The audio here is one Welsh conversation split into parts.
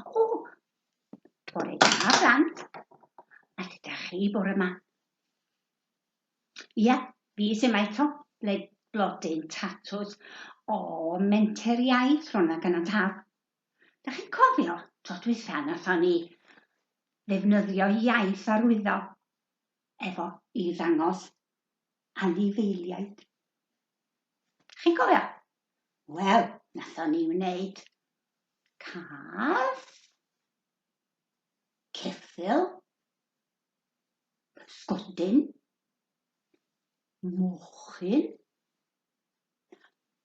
O, bore da, blant. A sut ydych chi bore yma? Ia, fi sy 'ma eto, ble blodyn tatws o Menter Iaith Rhonag yn y Taf. Dach chi'n cofio tro dwytha nathon ni ddefnyddio iaith arwyddo efo i ddangos anifeiliaid? Chi'n cofio? Wel, nathon ni wneud cath, ceffyl, Pysgodyn, mochyn,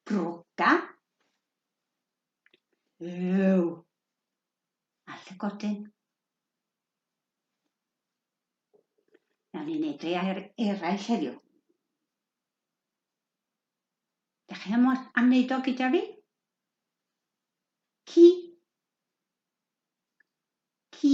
broga, ew a llygodyn. Nawr ni'n neud ei air eraill heddiw. Da chi am, am wneud o gyda fi? Ci. Ci.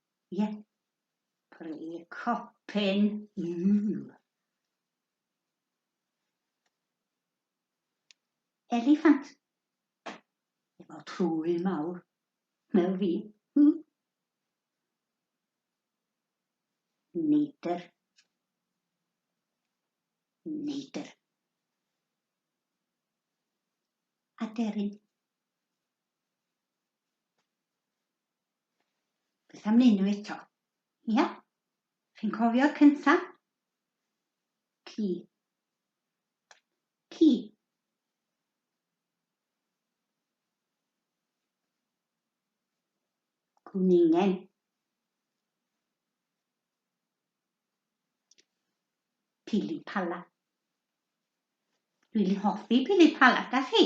Ie. Pry copyn yw? Eliffant. Efo trwy mawr. Fel fi. Hmm. Neidr. Neidr. Aderyn. Beth am neud nhw eto? Ia? Chi'n cofio'r cynta? Ci. Ci. Gwningen. Pili pala. Dwi'n hoffi pili pala, da chi?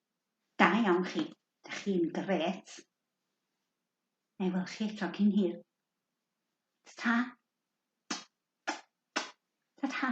Da iawn chi. Dach chi'n grêt. Na i weld chi eto cyn hir. Ta-ta. Ta-ta.